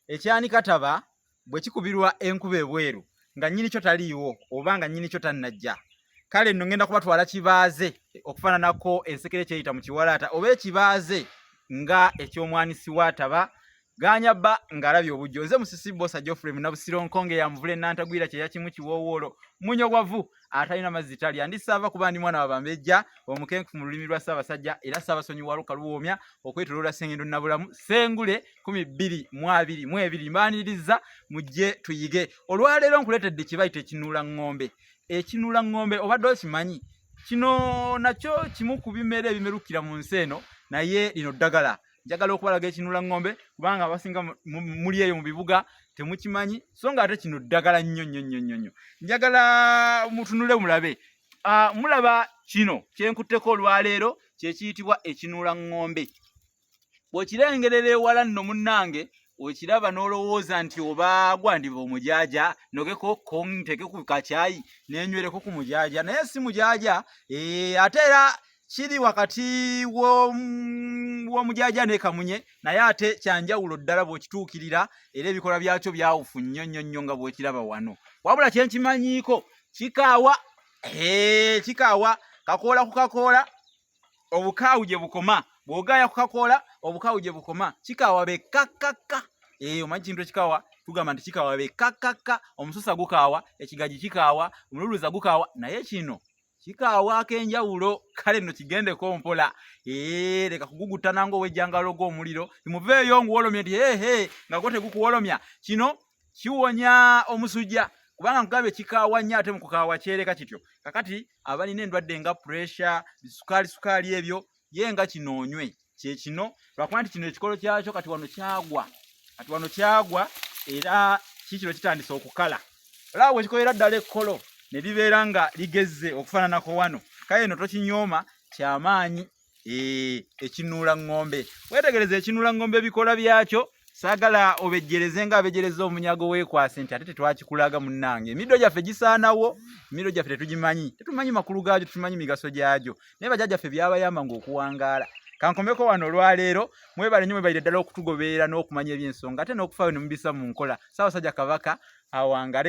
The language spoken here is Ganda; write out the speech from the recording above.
ekyanika taba bwe kikubirwa enkuba ebweru nga nyini kyo taliiwo oba nga nyini kyo tannajja kale nno ngenda kubatwala kibaaze okufaananako ensekere kyeyita mu kiwalaata oba ekibaaze nga eky'omwanisi wa taba ganya bba ng'alabye obujjo nze musisi bosa geoffrey munabusiro nkonge yamuvula enantagwira kyeyakimu kiwoowoolo munyogwavu atalina mazzi talya ndi saava kuba ndi mwana wabambejja omukenkufu mu lulimi lwa ssaabasajja era ssaabasonyi wa luka luwoomya okwetoloola sengendo nabulamu sengule kumi bbiri mu abiri mu ebiri mbaaniriza mujje tuyige olwaleero nkuleetedde kye bayita ekinuula ŋŋombe ekinuula ŋŋombe obadde okimanyi kino nakyo kimu ku bimera ebimerukira mu nsi eno naye lino ddagala njagala okubalaga ekinula ngombe kubanga abasinga muli eyo mu bibuga temukimanyi so nga ate kino ddagala nnyo nnyo nnyo nnyo nnyo njagala mutunule mulabe ah, mulaba kino kyenkutteko olwaleero kyekiyitibwa ekinula ngombe bwekirengerera ewala nno munnange okiraba n'olowooza nti oba gwandiba omujaaja nogeko konteke ku kakyayi nenywereko ku mujaaja naye si mujaaja eh, ate era kiri wakati w'omujaaja ne kamunye naye ate kyanjawulo ddala bw'okituukirira era ebikola byakyo byawufu nnyo nnyo nnyo nga bw'okiraba wano wabula kye nkimanyiiko kikaawa kikaawa kakoola ku kakoola obukaawu gye bukoma bw'ogaaya ku kakoola obukaawu gye bukoma kikaawa be kakkakka eyo omanyi kintu ekikaawa tugamba nti kikaawa be kakkakka omususa gukaawa ekigagi kikaawa omululuza gukaawa naye kino kikaawa ak'enjawulo kale nno kigendeko mpola ee leka kuguguttana ng'owejjangalo gw'omuliro imuveeyo nguwolomye nti hehe nga gwo tegukuwolomya kino kiwonya omusujja kubanga nkugaba ekikaawa nnyo ate mu kukaawa kyereka kityo kakati abalina endwadde nga puresha bisukaali sukaali ebyo ye nga kino onywe kyekino lwakuba nti kino ekikolo kyakyo kati wano kyagwa kati wano kyagwa era kikino kitandise okukala olaba bwekikolera ddala ekkolo ne libeera nga ligezze okufaananako wano kale no tokinyooma kyamaanyi eh, ekinuula ŋŋombe wetegereza ekinuula ŋŋombe ebikola byakyo saagala obejjereze nga abejjereza omunyago weekwase nti ate tetwakikulaga munnange emiddo gyaffe gisaanawo emiddo gyaffe tetugimanyi tetumanyi makulu gaagyo tetumanyi migaso gyagyo naye bajajja ffe byabayamba ngaokuwangaala kankomeko wano olwaleero mwebale nyo mwebalire ddala okutugoberera n'okumanya ebyensonga ate n'okufaayo nemubisa mu nkola saabasajja kabaka awangale